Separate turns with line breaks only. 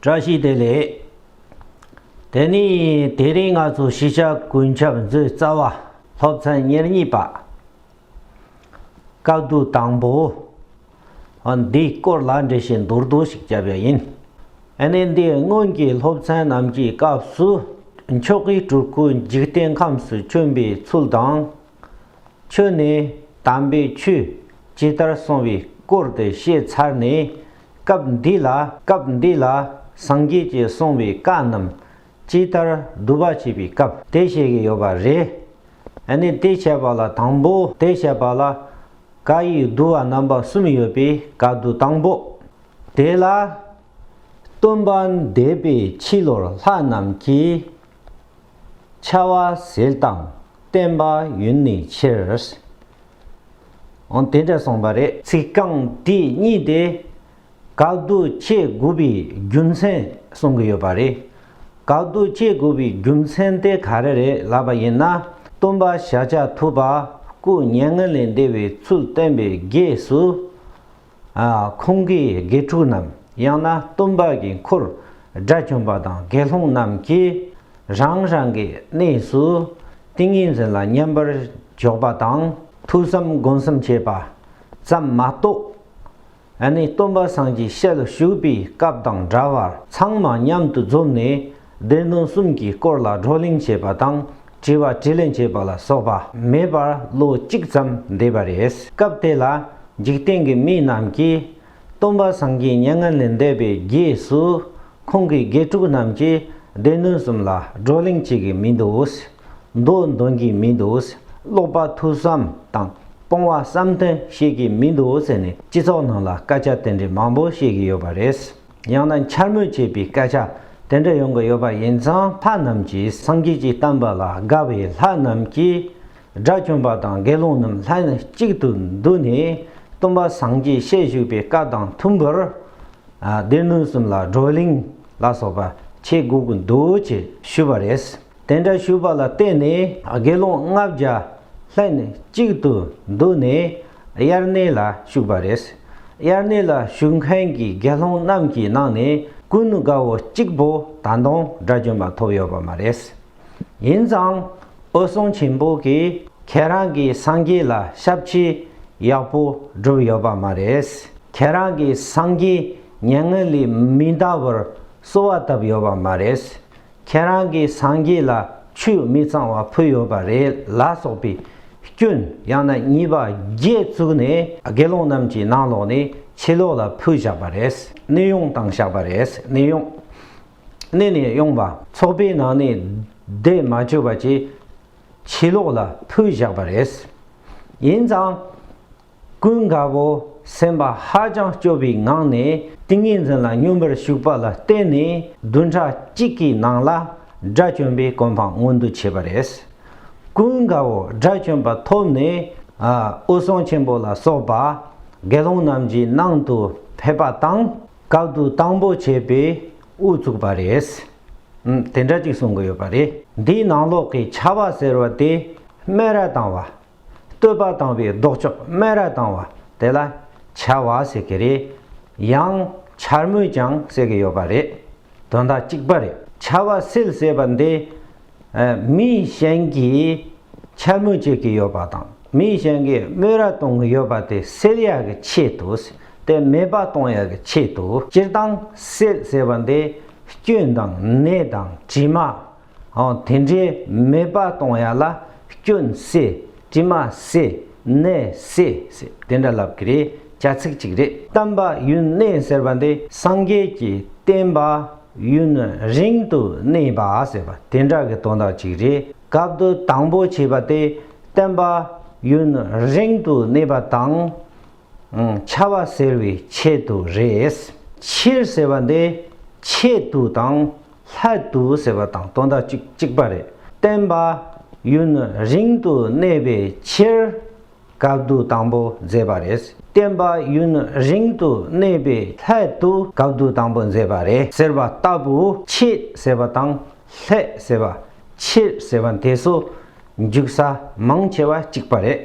བཀྲ་ཤིས་བདེ་ལེགས། དེ་ནས་དེ་རིང་ང་ཚོ་ཤེས་བྱ་ཀུན་ཁྱབ་མཛོད་རྩ་བ་སློབ་ཚན་ཉེར་གཉིས་པ། བཀའ་བསྡུ་དང་པོ། འདིའི་སྐོར་ལ་འགྲེལ་བཤད་མདོར་བསྡུས་ཤིག་བརྒྱབ་ཡ་ཡིན། ནས་འདིའི་སྔོན་གྱི་སློབ་ཚན་རྣམས་ཀྱི་སྐབས་སུ་མཆོག་གི་སྤྲུལ་སྐུ་འཇིག་རྟེན་ཁམས་སུ་བྱོན་པའི་ཚུལ་དང། ཁྱོད་ནི་དམ་པའི་ཆོས་ཇི་ལྟར་གསུངས་པའི་སྐོར་དེ་བཤད་ཚར་ནས་སྐབས་འདི་ལ་སྐབས་འདི་ལ་སངས་རྒྱས་ཀྱིས་གསུངས་པའི་བཀའ་རྣམས་ཅི་ལྟར་བསྡུ་བ་བྱེད་པའི་སྐབས་དེ་བཤད་ཀྱི་ཡོད་པ་རེད། ནི་དེ་བཤད་པ་ལ་དང་པོ་དེ་བཤད་པ་ལ་བཀའ་ཡི་བསྡུ་བ་རྣམ་པ་གསུམ་ཡོད་པའི་བཀའ་བསྡུ་དང་པོ་དེ་ལ། སྟོན་པ་འདས་པའི་ཕྱི་ལོར་ལྷ་རྣམས་ཀྱིས་ཆ་བ་ཟིལ་དང་བརྟེན་པ་ཡུན་ནི་ཕྱིར། འོང་དེ་འདྲ་གསུངས་པ་རེད། ཚིག་རྐང་དེ་གཉིས་དེ་ག་དུ་ཆེ་དགུ་པའི་རྒྱུ་མཚན་གསུང་གི་ཡོད་པ་རེད། ག་དུ་ཆེ་དགུ་པའི་རྒྱུ་མཚན་དེ་ག་རེ་རེད་ལབ་པ་ཡིན་ན། སྟོན་པ་ཤཱཀྱ་ཐུབ་པ་སྐུ་བརྙན་ལས་འདས་པའི་ཚུལ་བསྟན་པའི་རྗེས་སུ། ཁོང་གིས་དགེ་ཕྲུག་རྣམས་ཡང་ན་སྟོན་པ་གྱི་འཁོར་དགྲ་བཅོམ་པ་དང་དགེ་སློང་རྣམས་ཀྱིས་རང་རང་གི་གནས་སུ་ཏིང་ངེ་འཛིན་ལ་མཉམ་པར་འཇོག་པ་དང་ཐོས་བསམ་སྒོམ་གསུམ་བྱེད་པ་ཙམ་མ་གཏོགས། ནི་སྟོན་པ་སངས་ཀྱི་ཞལ་བཞུགས་པའི་སྐབས་དང་འདྲ་བར་ཚང་མ་མཉམ་དུ་འཛོམས་ནས་སྡེ་སྣོད་གསུམ་གྱི་སྐོར་ལ་བགྲོ་གླེང་བྱེད་པ་དང་དྲི་བ་དྲིས་ལན་བྱེད་པ་ལ་སོགས་པ་མེད་པར་ལོ་གཅིག་ཙམ་འདས་པ་རེད། སྐབས་དེ་ལ་འཇིག་རྟེན་གྱི་མི་རྣམས་ཀྱིས་སྟོན་པ་སངས་རྒྱས་མྱ་ངན་ལས་འདས་པའི་རྗེས་སུ་ཁོང་གི་དགེ་ཕྲུག་རྣམས་ཀྱིས་སྡེ་སྣོད་གསུམ་ལ་བགྲོ་གླེང་བྱེད་ཀྱི་མི་འདུག་མདོ་འདོན་གྱི་མི་འདུག་ཀློག་པ་ཐུགས་བསམ་དང་སྤོང་བ་བསམ་དོན་བཤད་ཀྱི་མི་འདུག་ཟེར་ནས་སྤྱི་ཚོགས་ནང་ལ་སྐད་ཆ་དེ་འདྲའི་མང་པོ་བཤད་ཀྱི་ཡོད་པ་རེད། ཡང་ན་འཕྱ་སྨོད་བྱེད་པའི་སྐད་ཆ་དེ་འདྲ་ཡོང་གི་ཡོད་པ་ཡིན་ཙང་ལྷ་རྣམས་ཀྱིས་སངས་རྒྱས་ཀྱི་བསྟན་པ་ལ་དགའ་བས་ལྷ་རྣམས་ཀྱིས་དགྲ་བཅོམ་པ་དང་དགེ་སློང་རྣམས་ལྷན་ཅིག་ཏུ་འདུས་ནས་སྟོན་པ་སངས་རྒྱས་བཤད་བཞུགས་པའི་བཀའ་དང་མཐུན་པར་སྡེ་སྣོད་གསུམ་ལ་བགྲོ་གླེང་ལ་སོགས་པ་བྱེད་དགོས་ཀྱི་འདུག་ཅེས་ཞུས་པ་རེད། དེ་འདྲ་ཞུས་པ་ལ་བརྟེན་ནས་དགེ་སློང་ལྔ་བརྒྱ་ལྷན་གཅིག་ཏུ་འདུས་ནས་དབྱར་གནས་ལ་བཞུགས་པ་རེད། དབྱར་གནས་ལ་བཞུགས་མཁན་གྱི་དགེ་སློང་རྣམས་ཀྱི་ནང་ནས་ཀུན་དགའ་བོ་གཅིག་པོ་ད་དུང་དགྲ་གྱོན་པ་ཐོབ་ཡོད་པ་མ་རེད། ཡིན་ཙང་འོད་སྲུང་ཆེན་པོ་གིས་ཁྱེད་རང་གི་སངས་རྒྱས་ལ་ཞབས་ཕྱི་ཡག་པོ་བསྒྲུབས་ཡོད་པ་མ་རེད། ཁྱེད་རང་གི་སངས་རྒྱས་མྱ་ངན་ལས་མི་འདའ་བར་གསོལ་བ་བཏབ་ཡོད་པ་མ་རེད། ཁྱེད་རང་གི་སངས་རྒྱས་ལ་ཆུས་མི་གཙང་བ་ཕུལ་ཡོད་པ་རེད་ལ་སོགས་པའི་སྐྱོན་ཡང་ན་གཉིས་པ་བརྒྱད་བཙུགས་ནས་དགེ་སློང་རྣམས་ཀྱི་ནང་ལོགས་ནས་ཕྱི་ལོགས་ལ་ཕུལ་བཞག་པ་རེད་གནས་དབྱུང་བཏང་བཞག་པ་རེད་གནས་དབྱུང། གནས་ནས་དབྱུང་བ། ཚོགས་པའི་ནང་ནས་བསྡད་མ་བཅོས་པ་བཅས་ཕྱི་ལོགས་ལ་ཕུལ་བཞག་པ་རེད། ཡིན་ཙང། ཀུན་དགའ་བོ་སེམས་པ་ཧ་ཅང་སྐྱོ་བའི་ངང་ནས་ཏིང་ངེ་འཛིན་ལ་སྙོམས་པར་ཞུགས་པ་ལ་བརྟེན་ནས་བདུན་ཕྲག་གཅིག་གི་ནང་ལ་དགྲ་བཅོམ་པའི་གོ་འཕང་མངོན་དུ་བྱས་པ་རེད། ཀུན་དགའ་བོ་དགྲ་བཅོམ་པ་ཐོབ་ནས་དབུ་སྲོང་ཆེན་པོ་ལ་སོགས་པ་དགེ་སློང་རྣམས་ཀྱི་ནང་དུ་ཕེབས་པ་དང་བཀའ་བསྡུ་དང་པོ་བྱས་པའི་དབུ་བཙུགས་པ་རེད། དེ་འདྲ་ཅིག་གསུང་གི་ཡོད་པ་རེད། འདིའི་ནང་ལོགས་ཀྱི་ཆ་བ་ཟེར་བ་དེ་སྨན་ར་དང་བ་བསྟོད་པ་བཏང་བའི་ལྡོག་ཕྱོགས་སྨད་ར་བཏང་བ་དེ་ལ་བྱ་བ་ཟེར་གྱི་རེད། ཡང་བྱར་མོས་ཀྱང་ཟེར་གྱི་ཡོད་པ་རེད། དོན་དག་གཅིག་པ་རེད། བྱ་བ་སེལ་ཟེར་བ་འདི། མིའི་གཞན་གྱིས་བྱར་མོས་བྱེད་ཀྱི་ཡོད་པ་དང་མིའི་གཞན་གྱིས་སྨོད་ར་གཏོང་གི་ཡོད་པ་དེ་སེལ་ཡག་གི་ཆེད་དུ་དེ་མེད་པ་གཏོང་ཡག་གི་ཆེད་དུ། སྤྱིར་བཏང་སེལ་ཟེར་བ་འདི་སྐྱོན་དང་ནད་དང་དྲི་མ་དེ་འདྲའི་མེད་པ་གཏོང་ཡ་ལ་སྐྱོན་སེ་དྲི་མ་སེ་ནད་སེ་ཟེར་དེ་འདྲ་ལབ་གི་རེད་རྒྱ་ཚིག་ཅིག་རེད། བསྟན་པ་ཡུན་གནས་ཟེར་བ་འདི་སངས་རྒྱས་ཀྱི་བསྟན་པ་ཡུན་རིང་དུ་གནས་པ་ཟེར་བ་དེ་འདྲ་གི་དོན་དག་ཅིག་རེད་སྐབས་བསྡུ་དང་པོ་བྱས་པ་དེ་བསྟན་པ་ཡུན་རིང་དུ་གནས་པ་དང་འཆའ་བ་ཟེར་བའི་ཆེད་དུ་རེད། ཕྱིར་ཟེར་བ་འདི་ཆེད་དུ་དང་ལྷ་དུ་ཟེར་བ་དང་སྟོན་ཟླ་གཅིག་གཅིག་པ་རེད། བསྟན་པ། ཡུན་རིང་དུ་གནས་པའི་ཕྱིར། བཀའ་བསྡུ་དང་པོ་མཛད་པ་རེད། བསྟན་པ་ཡུན་རིང་དུ་གནས་པའི་ལྷད་དུ་བཀའ་བསྡུ་དང་པོ་མཛད་པ་རེད་ཟེར་བ་ལྟ་བུ་ཕྱིས་ཟེར་བ་དང་ལྷད་ཟེར་བ། ཕྱིར་ཟེར་བ་དེ་སོ་འཇུག་ས་མང་ཆེ་བ་གཅིག་པ་རེད།